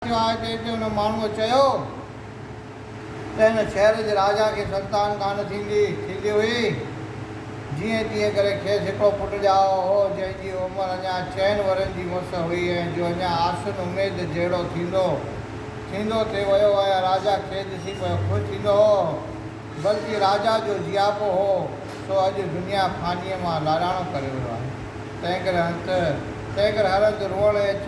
آهي تنهن تي ان ماڻهوء چيو ته هن شهر جي راجا کي سنتان ڪانه ٿيندي ٿيندي هئي، جيئن تيئن ڪري کيس هڪڙو پٽ ڄائو هو، جنهن جي عمر اڃا چئن ورهين جي مس هئي ۽ جو اڃا آسن اميد جهڙو ٿيندو ٿيندو ٿي ويو هو ۽ راجا کيس ڏسي پيو خوش ٿيندو هو، بلڪه راجا جو جياپو هو سو اڄ دنيا فانيء مان لاڏاڻو ڪري ويو آهي، تنهن ڪري هنڌ تنهن ڪري هر هنڌ روئڻ ايڇ.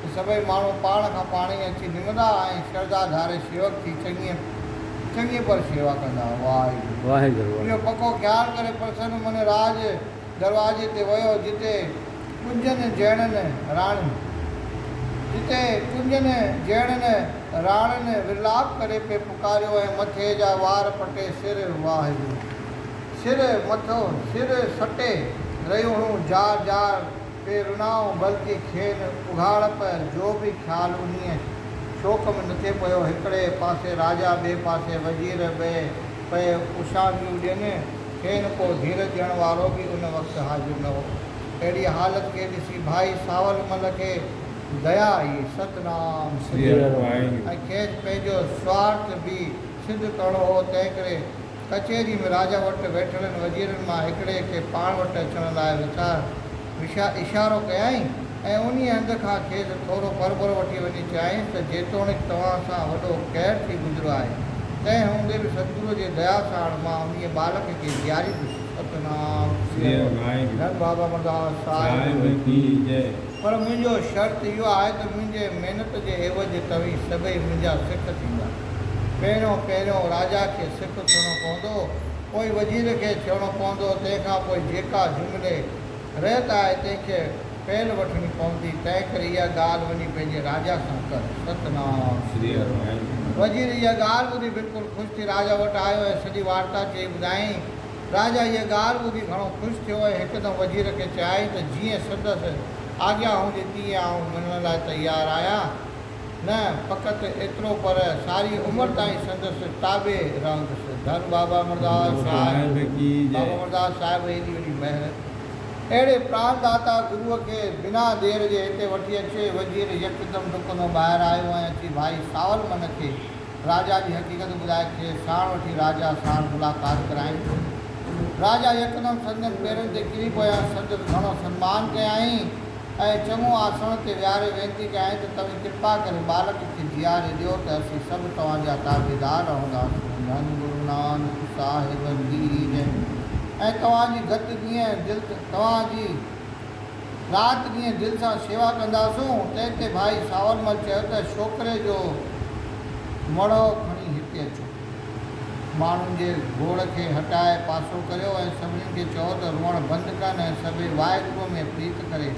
ته سڀئي ماڻهو پاڻ کان پاڻ ئي اچي نمندا ۽ شرڌا ڌاري شيوڪ جي چڱيء چڱيء پر شيوا ڪندا. واحگرو اهو پڪو خيال ڪري پرسن من راڄ دروازي تي ويو جتي ڪنجن جهڙن راڻين جتي ڪنجن جهڙن راڻين ورلاپ ڪري پئي پڪاريو ۽ مٿي جا وار پٽي سر واحگرو سر مٿو سر سٽي رهيون هيون جار جار پئي رنائون بلڪه کين اگهاڙپ جو به خيال انهيء شوق ۾ نه ٿي پيو. هڪڙي پاسي راجا ٻئي پاسي وزير ٻئي پئي اوشاهنگيون ڏين. کين ڪو ڌيرج ڏيڻ وارو به ان وقت حاضر نه هو. اهڙيء حالت کي ڏسي ڀائي ساول مل کي ديا آئي. ستنام سريارام ۽ کيس پنهنجو سوارٿ به سڌ ڪرڻو هو تنهنڪري ڪچهري ۾ راجا وٽ ويٺلن وزيرن مان هڪڙي کي پاڻ وٽ اچڻ لاء وچار وشا اشارو ڪيائين ۽ انهيء هنڌ کان کيس ٿورو پرڀرو وٺي وڃي چيائين ته جيتوڻيڪ توهان سان وڏو قهر ٿي گذريو آهي، تنهن هوندي به ستگرو جي ديا ساڻ مان انهيء ٻالڪ کي جياريندس. ستنام سري ارو ڌن بابا مرداس صاحب جي جئي. پر منهنجو شرط اهو آهي ته منهنجي محنت جي عيوض توهين سڀئي منهنجا سک ٿيندا. پهريون پهريون راجا کي سک ٿيڻو پوندو، پوء وزير کي ٿيڻو پوندو، تنهن کان پوء جيڪا جملي رهت آهي تنهن کي پهل وٺڻي پوندي، تنهنڪري اها ڳالهه وڃي پنهنجي راجا سان ڪر. ستنام سري هنومان. وزير اها ڳالهه ٻڌي بلڪل خوش ٿي راجا وٽ آيو ۽ سڄي وارتا چئي ٻڌائين. راجا اها ڳالهه ٻڌي گهڻو خوش ٿيو ۽ هڪدم وزير کي چيائين ته جيئن سندس آجيا هوندي تيئن آئون ملڻ لاء تيار آهيان، نه فقط ايترو پر ساري عمر تائين سندس تابع رهندس. ڌن بابا مرداس صاحب بابا مرداس صاحب ايڏي وڏي مهر اهڙي پراڻ ڏاتا گروء کي بنا دير جي هتي وٺي اچي وزير يڪدم ڊڪندو ٻاهر آيو ۽ اچي ڀائي سانول من کي راجا جي حقيقت ٻڌائي کيس ساڻ وٺي راجا ساڻ ملاقات ڪرايائين. راجا يڪدم سندن پيرن تي ڪري پيو ۽ سندس گهڻو سنمان ڪيائين ۽ چڱو آسڻ تي ويهاري وينتي ڪيائين ته توهين ڪرپا ڪري ٻالڪ کي جياري ڏيو ته اسين سڀ توهان جا تابعدار رهنداسون. ڌن گرو نانڪ صاحب جي هجين ۽ توهان جي گت جيئن دل توهان جي. رات ڏينهن دل سان شيوا ڪنداسون. تنهن تي ڀائي ساورمل چيو ته شوڪري جو مڙهو کڻي هتي اچو. ماڻهن جي گوڙ کي هٽائي پاسو ڪريو ۽ سڀني کي چئو ته روئڻ بند ڪن ۽ سڀئي واحگروء ۾ پريت ڪري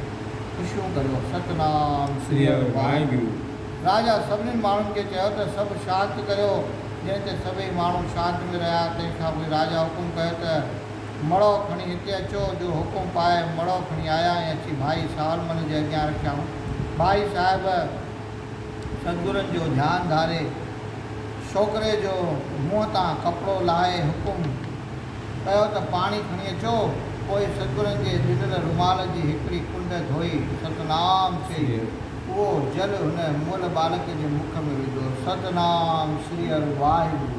خوشيون ڪريو. ستنام سريء واحگرو. راجا سڀني ماڻهن کي چيو ته سڀ شانت ڪريو. جنهن تي سڀئي ماڻهو شانت ۾ رهيا. تنهن کان پوء راجا حڪم ڪيو ته. مڙئو کڻي هتي اچو، جو حڪم پائي مڙئو کڻي آيا ۽ اچي ڀائي سالمن جي اڳيان رکيائون. ڀائي صاحب سدگرن جو ڌيان ڌاري، ڇوڪري جو منهن تان ڪپڙو لاهي حڪم ڪيو ته پاڻي کڻي اچو، پوء سدگرن جي ڏنل رومال جي هڪڙي ڪنڊ ڌوئي ستنام چئي، اهو جل هن مئل ٻالڪ جي مک ۾ وڌو. ستنام شري هر واهه گرو.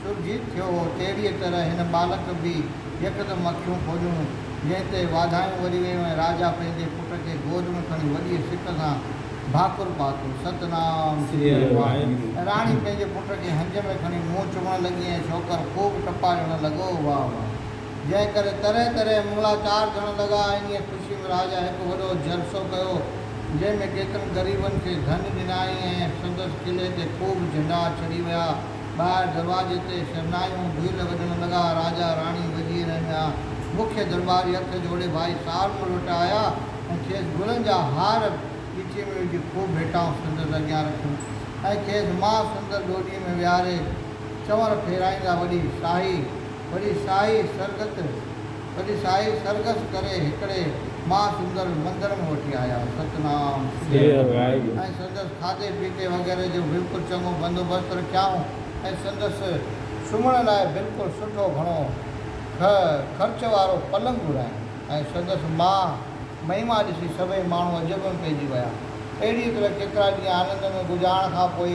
سو جيت ٿيو هو، تهڙيء طرح هن ٻالڪ به يڪدم اکيون کوليون، جنهن تي واڌايون وري ويون ۽ راجا پنهنجي پٽ کي گود ۾ کڻي وڏيء سڪ سان ڀاڪر پاتو، ست نام سري هنومان. راڻي پنهنجي پٽ کي هنج ۾ کڻي منهن چمڻ لڳي ۽ شوڪر خوب ٽپا ڏيڻ لڳو، واهه واهه. جنهن ڪري طرح طرح مڱلا چار ٿيڻ لڳا. انهيء خوشيء ۾ راجا هڪ وڏو جلسو ڪيو، جنهن ۾ ڪيترن غريبن کي ڌن ڏنائين ۽ سندس قلعي تي خوب جهنڊا ڇڙي ويا. ٻاهر دروازي تي شرنايون ڀيل وڄڻ لڳا. راجا، راڻي، وزير ۽ ٻيا مکيه درٻاري هٿ جوڙي ڀائي سارنگ وٽ آيا ۽ کيس گلن جا هار ڏٺي ۾ وجهي خوب ڀيٽائون سندس اڳيان رکيون ۽ کيس ماء سندر ڏوڏي ۾ ويهاري چنور ڦيرائيندا وڏي شاهي، وڏي شاهي سرگت! تڏهن سائين سرگس ڪري هڪڙي مها سندر مندر ۾ وٺي آيا. ستنام سري اڪبر ۽ سندس کاڌي پيتي وغيره جو بلڪل چڱو بندوبست رکيائون ۽ سندس سمهڻ لاء بلڪل سٺو گهڻو کهه خرچ وارو پلنگ گهرايائون ۽ سندس مها مهما ڏسي سڀئي ماڻهو عجب ۾ پئجي ويا. اهڙيء طرح ڪيترا ڏينهن آنند ۾ گذارڻ کان پوء،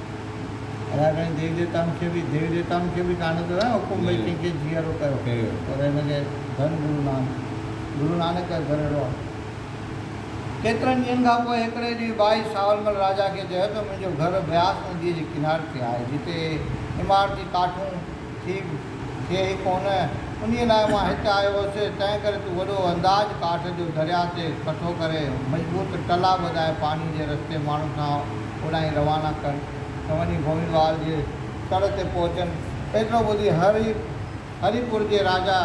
ادا ڪرين ديوي ديوتائن کي به ديوي ديوتائن کي به ڪانه ٿو ڪران حڪم ڀئي ڪنهن کي جيئرو ڪيو پر هن کي ڌن گرو نانڪ گرو نانڪ ڪيو گهر اهڙو آهي. ڪيترن ڏينهن کان پوء هڪڙي ڏينهن ٻائي ساولمل راجا کي چيو ته منهنجو گهر بياس نديء جي ڪناري تي آهي جتي عمارتي ڪاٺون ٿي ٿئي ئي ڪونه، انهيء لاء مان هت آيو هوس، تنهن ڪري تون وڏو انداز ڪاٺ جو درياء تي ڪٺو ڪري، مضبوط ٽلا ٻڌائي پاڻي جي رستي ماڻهن کان اوڏانهين روانا ڪر ته وڃي گوئندوال جي تڙ تي پهچن. ايترو ٻڌي هري هري پور جي راجا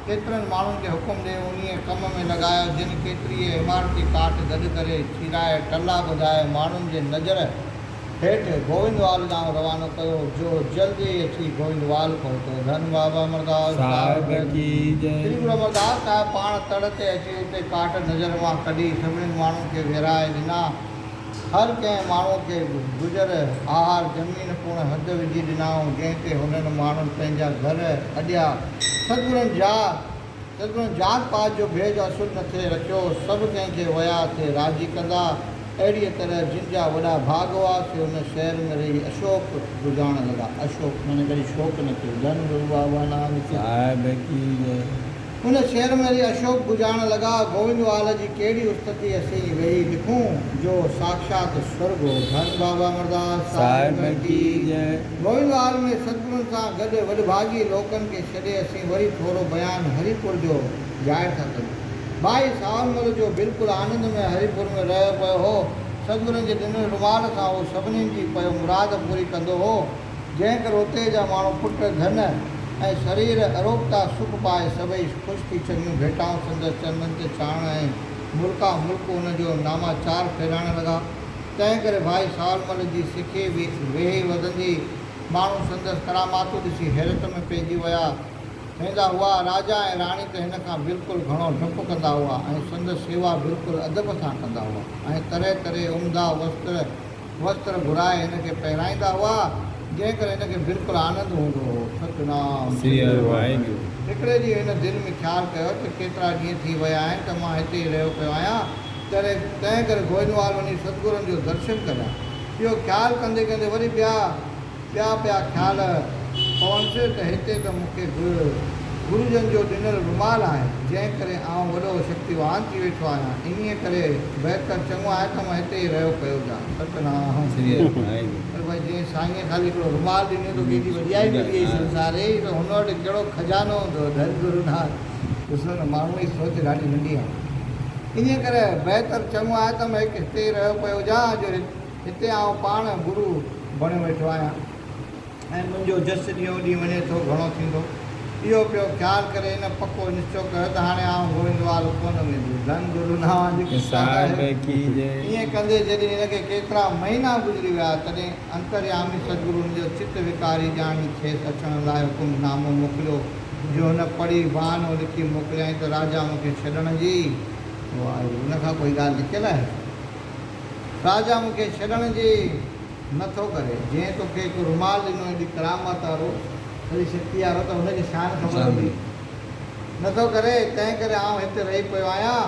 ڪيترن ماڻهن کي حڪم ڏئي انهيء ڪم ۾ لڳايو، جن ڪيتريء عمارتي ڪاٺ گڏ ڪري، چيرائي، ٽلا ٻڌائي، ماڻهن جي نظر هيٺ گووندوال ڏانهن روانو ڪيو جو جلد ئي اچي گووندوال پهتو. ڌن بابا امرداس صاحب جي جي. شري گرو امرداس صاحب پاڻ تڙ تي اچي اتي ڪاٺ نظر مان ڪڍي سڀني ماڻهن کي ويرائي ڏنا. هر ڪنهن ماڻهو کي گذر آهر زمين پڻ هڌ وجهي ڏنائون جنهن تي هنن ماڻهن پنهنجا گهر اڏيا. سگهڙن جا. تڏهن ذات پات جو ڀيد اصل نه ٿئي رکيو، سڀ ڪنهن کي ويا ٿئي راضي ڪندا، اهڙيء طرح جن جا وڏا ڀاڳ هئا، سي ان شهر ۾ رهي اشوڪ گذارڻ لڳا. اشوڪ معنيٰ ڪڏهن شوڪ نه ٿيو، ڌن وروا هئا نه آهن ڪي. صاحب ڪي جئي. ان شهر ۾ رهي اشوڪ گذارڻ لڳا. گووندوال جي ڪهڙي استتي اسين ويهي لکون، جو ساکشات سرڳ هو. ڌن بابا مرڌاس صاحب ڪي جئي. گووندوال ۾ ستگرن سان گڏ وڏڀاڳي لوڪن کي ڇڏي اسين. وري ٿورو بيان هري پور جو ڄائڻ ٿا ڪريون. ڀائي ساولمل جو بلڪل آنند ۾ هري پور ۾ رهيو پيو هو. سدگرن جي ڏنل رومال سان هو سڀنين جي پيو مراد پوري ڪندو هو. جنهن ڪري اتي جا ماڻهو پٽ ڌن ۽ سرير اروپتا سک پائي سڀئي خوش ٿي چڱيون ڀيٽائون سندس چرنن تي ڇاڻڻ ۽ ملڪان ملڪ هن جو ناماچار ڦيرائڻ لڳا. تنهن ڪري ڀائي ساولمل جي سکي ويهي وڌندي. ماڻهو سندس ڪراماتون ڏسي حيرت ۾ پئجي ويا ويندا هئا. راجا ۽ راڻي ته هن کان بلڪل گهڻو ڊپ ڪندا هئا ۽ سندس سيوا بلڪل ادب سان ڪندا هئا ۽ طرح طرح عمدا وستر وستر گهرائي هن کي پهرائيندا هئا، جنهن ڪري هن کي بلڪل آنند هوندو هو. ستنام سريو واحگرو. هڪڙي ڏينهن هن دل ۾ خيال ڪيو ته ڪيترا ڏينهن ٿي ويا آهن ته مان هتي ئي رهيو پيو آهيان، تنهن ڪري گوئنوال وڃي ستگرن جو درشن ڪريان. اهو خيال ڪندي ڪندي وري ٻيا ٻيا پيا خيال پونس ته هتي ته مون کي به گرو جن جو ڏنل رومال آهي، جنهن ڪري آئون وڏو شڪتيوان ٿي ويٺو آهيان، انهيء ڪري بهتر چڱو آهي ته مان هتي ئي رهيو پيو هجان. ستنام سري هر مائي. پر ڀائي جنهن سائينء خالي هڪڙو رومال ڏنو توکي ايڏي وڏيائي ملي اهي سنساري ته هن وٽ ڪهڙو خزانو هوندو ڌن گروناٿ. ڏسو نه ماڻهوء جي سوچ ڏاڍي ننڍي آهي. انهيء ڪري بهتر چڱو آهي ته مان هڪ هتي ئي رهيو پيو هجان، جو هتي آئون پاڻ گرو بڻيو ويٺو آهيان ۽ منهنجو جس ڏينهون ڏينهن وڃي ٿو گهڻو ٿيندو. اهو پيو خيال ڪري هن پڪو نشچو ڪيو ته هاڻي آئون گوئندوال ڪونه ويندس. ڌن گرو نانوان جي ڪرپا آهي. ائين ڪندي جڏهن هن کي ڪيترا مهينا گذري ويا، تڏهن انتريامي سدگرو هن جو چت وڪاري ڄاڻي کيس اچڻ لاء حڪم نامو موڪليو. جو هن پڙهي بهانو لکي موڪليائين ته راجا مون کي ڇڏڻ جي واهي. ان کان پوء هي ڳالهه لڪيل آهي. راجا مون کي ڇڏڻ جي نه ٿو ڪري. جنهن تو کي هڪ رومال ڏنو ايڏي ڪرامت وارو، ايڏي شڪتيء وارو ته هن جي شان خبر هوندي. نه ٿو ڪري، تنهن ڪري آئون هتي رهي پيو آهيان.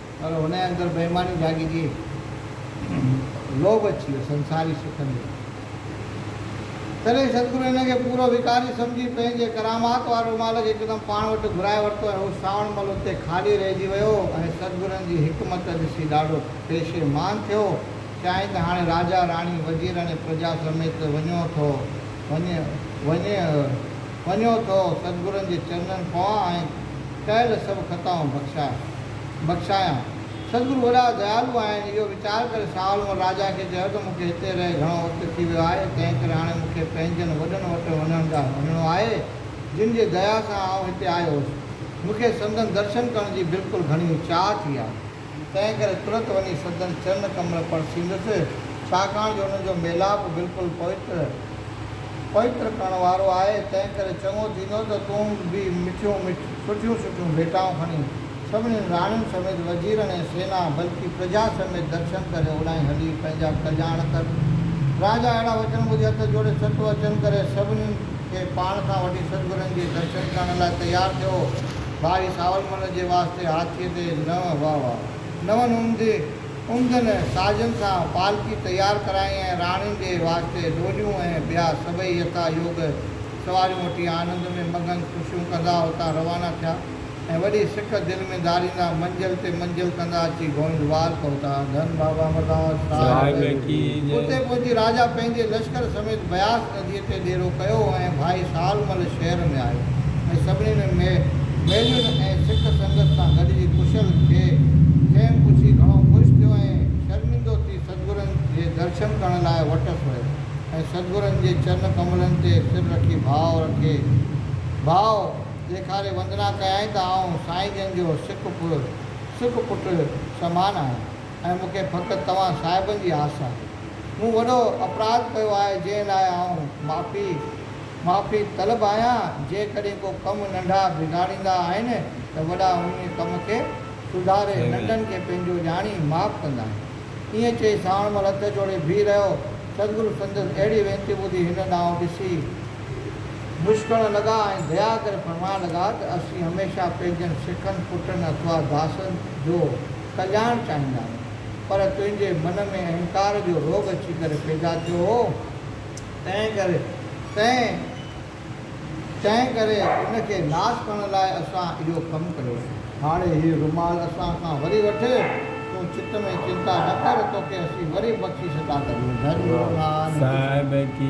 پر هن جي اندر بيماني جاڳي جي لوڀ اچي ويو سنساري سکن جو. تڏهن ستگرو هن کي پورو وڪاري سمجهي پنهنجي ڪرامات واري رومال کي هڪدم پاڻ وٽ گهرائي ورتو ۽ هو ساوڻ مل اتي خالي رهجي ويو ۽ ستگرن جي حڪمت ڏسي ڏاڍو پيشيمان ٿيو چيائين ته هاڻي راجا راڻي وزير اڻي پرجا سميت وڃو ٿو وڃي وڃي وڃو ٿو ستگرن جي چرنن پوان ۽ ڪيل سڀ خطائون بخشاء. بخشايان. سدگرو وڏا ديالو آهن. اهو ويچار ڪري شاهه عالم راجا کي چيو ته مون کي هتي رهي گهڻو وقت ٿي ويو آهي، تنهن ڪري هاڻي مون کي پنهنجن وڏن وٽ وڃڻ ڏانهن وڃڻو آهي، جن جي ديا سان آئون هتي آيو هوس. مون کي سندن درشن ڪرڻ جي بلڪل گهڻيون چاهه ٿي آهي. تنهن ڪري ترت وڃي سندن چرن ڪمل پرسيندس، ڇاڪاڻ جو انهن جو ميلاپ بلڪل پوتر، پوتر ڪرڻ وارو آهي، تنهن ڪري چڱو ٿيندو ته تون به مٺيون مٺ، سٺيون سٺيون ڀيٽائون کڻي، سڀنين راڻين سميت، وزيرن ۽ سينا، بلڪ پرجا سميت درشن ڪري اوڏانهن هلي پنهنجا ڪلياڻ ڪر. راجا اهڙا وچن ٻڌي هٿ جوڙي ست وچن ڪري سڀنين کي پاڻ سان وٺي ستگرن جي درشن ڪرڻ لاء تيار ٿيو. ڀائي ساولمل جي واسطي هاٿيء تي نو هئا هئا. نون عمدي عمدن سازن سان پالڪي تيار ڪرائين ۽ راڻين جي واسطي ڏوليون ۽ ٻيا سڀئي يٿا يوگ سواريون وٺي آنند ۾ مگن خوشيون ڪندا اتان روانا ٿيا ۽ وڏي سڪ دل ۾ ڌاريندا منزل تي منزل ڪندا اچي گوئندوال پهتا. ڌن بابا امرڌاس صاحب اتي پهچي راجا پنهنجي لشڪر سميت بياس نديء پيء تي ڏيرو ڪيو ۽ ڀائي سال مل شهر ۾ آيو ۽ سڀني ۾ ميلين ۽ سک سنگت سان گڏجي ڪشل کي کيم پڇي گهڻو خوش ٿيو ۽ شرمندو ٿي سدگرن جي درشن ڪرڻ لاء وٽس ويو ۽ سدگرن جي چرن ڪملن تي سر رکي ڀاء رکي ڀاء ڏيکاري وندنا ڪيائين ته آئون سائين جن جو سک سک پٽ سمان آهيان. ۽ مون کي فقط توهان صاحبن جي آس آهي. مون وڏو اپراڌ ڪيو آهي جنهن لاء آئون معافي معافي طلب آهيان. جيڪڏهن ڪو ڪم ننڍا بگاڙيندا آهن ته وڏا انهيء ڪم کي سڌاري ننڍن کي پنهنجو ڄاڻي معاف ڪندا آهن. ائين چئي سانوڻ مل هٿ جوڙي بيهي رهيو. سدگرو سندس اهڙي وينتي ٻڌي هن ڏانهن ڏسي مسڪڻ لڳا ۽ ديا ڪري فرمائڻ لڳا ته اسين هميشه پنهنجن سکن پٽن اٿوا داسن جو ڪلياڻ چاهيندا آهيون، پر تنهنجي من ۾ اهنڪار جو روڳ اچي ڪري پيدا ٿيو هو، تنهن ڪري تنهن تنهن ڪري ان کي ناس ڪرڻ لاء اسان اهو ڪم ڪيو آهي. هاڻي هي رومال اسان کان وري وٺ، تون چت ۾ چنتا نه ڪر، توکي اسين وري بخشي ڇڏنداسين. ڌن گروناٿ. صاحب ڪي.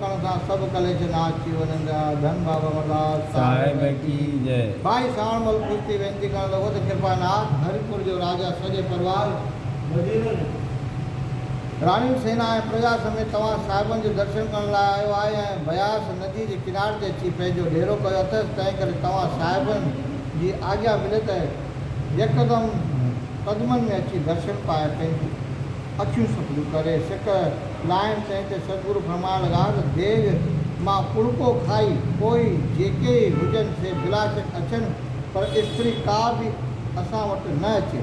ڪڻ سان سڀ ڪليش ناس ٿي وڃن جا ڌن بابا امرلاس صاحب جي جئ. ڀائي ساڻ مل خوش ٿي وينتي ڪرڻ لڳو ته ڪرپا ناٿ هري پور جو راجا سڄي پروار وزيرن راڻين سينا ۽ پرجا سميت توهان صاحبن جي درشن ڪرڻ لاء آيو آهي ۽ بياس ندي جي ڪنار تي اچي پنهنجو ڏيرو ڪيو اٿس تنهن ڪري توهان صاحبن جي آجيا ملي ته يڪدم قدمن ۾ اچي درشن پائي پنهنجي اکيون سپليون ڪري سڪ لائين سائين تي سدگرو فرمان لڳا ته ديڳ مان ڪڻڪو کائي پوء جيڪي ئي هجن سي بلاشڪ اچن پر استري ڪا به اسان وٽ نه اچي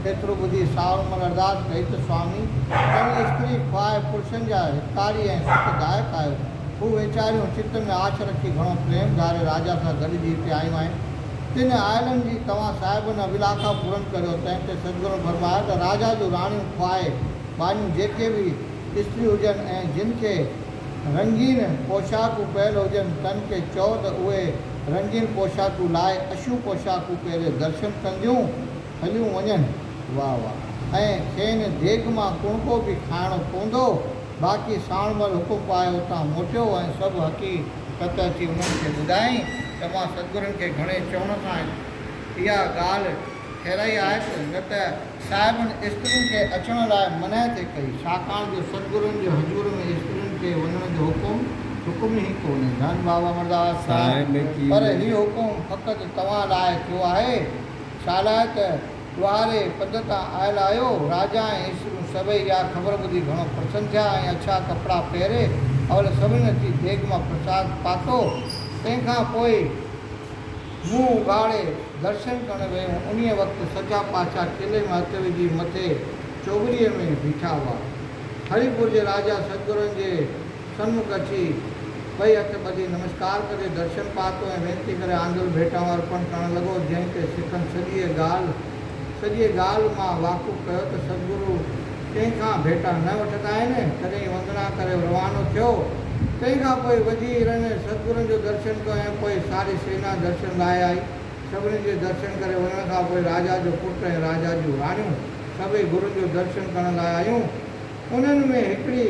ايترو ٻڌي ساهو عمر ارداس ڪئي ته سوامي تون استري کواء پرشن جا هتڪاري ۽ سک دائڪ آهيو هو ويچاريون چت ۾ آڇ رکي گهڻو پريم ڌاري راجا سان گڏجي هتي آيون آهن تن آئلن جي توهان صاحب نه ولاکا پورن ڪريو تنهن تي سدگرن فرمايو ته راجا جون راڻيون خواهي ٻانهيون جيڪي به استريون هجن ۽ جن کي رنگين پوشاڪون پيل هجن تن کي چئو ته اهي رنگين پوشاڪون لائي اشون پوشاڪون پهري درشن ڪنديون هليون وڃن. واهه واهه. ۽ کين ديڳ مان ڪڻڪو به کائڻو پوندو باقي ساڻ مھل حڪم پائي اتان موٽيو ۽ سڀ حقي قت اچي انھن کي ٻڌائين ته مان سدگرن کي گھڻي چوڻ کان اھا ڳالھ ٺھرائي آھي ته نه ته صاحبن استرين کي اچڻ لاء منعي ٿي ڪئي ڇاڪاڻ جو سدگرن جي حضور ۾ استرين کي وڃڻ جو حڪم حڪم ئي ڪونھي ڌن بابا مرداس صاحب پر ھي حڪم فقط توھان لاء ٿيو آھي ڇالاء ته واري پد تان آيل آهيو. راجا ۽ اسريون سڀئي اها خبر ٻڌي گهڻو پرسن ٿيا ۽ اڇا ڪپڙا پهري اول سڀني اچي ديڳ مان پرساد پاتو. تنهن کان پوء منهن اگهاڙي درشن ڪرڻ ويون. انهيء وقت سچا پاڇا قلعي ۾ هٿ وجهي مٿي چوٻريء ۾ بيٺا هئا. هريپور جي راجا سدگرن جي. سنمک اچي ٻئي هٿ ٻڌي نمسڪار ڪندي درشن پاتو ۽ وينتي ڪري آندل ڀيٽائون ارپڻ ڪرڻ لڳو، جنهن تي سکن سڄيء ڳالهه سڄيء ڳالهه مان واقف ڪيو ته سدگرو ڪنهن کان ڀيٽا نه وٺندا آهن، تڏهن وندنا ڪري روانو ٿيو، تنهن کان پوء وزيرن سدگرن جو درشن ڪيو ۽ پوء ساري سينا درشن لاء آئي، سڀني جي درشن ڪري وڃڻ کان پوء راجا جو پٽ ۽ راجا جون راڻيون سڀئي گرن جو درشن ڪرڻ لاء آيون، انهن ۾ هڪڙي.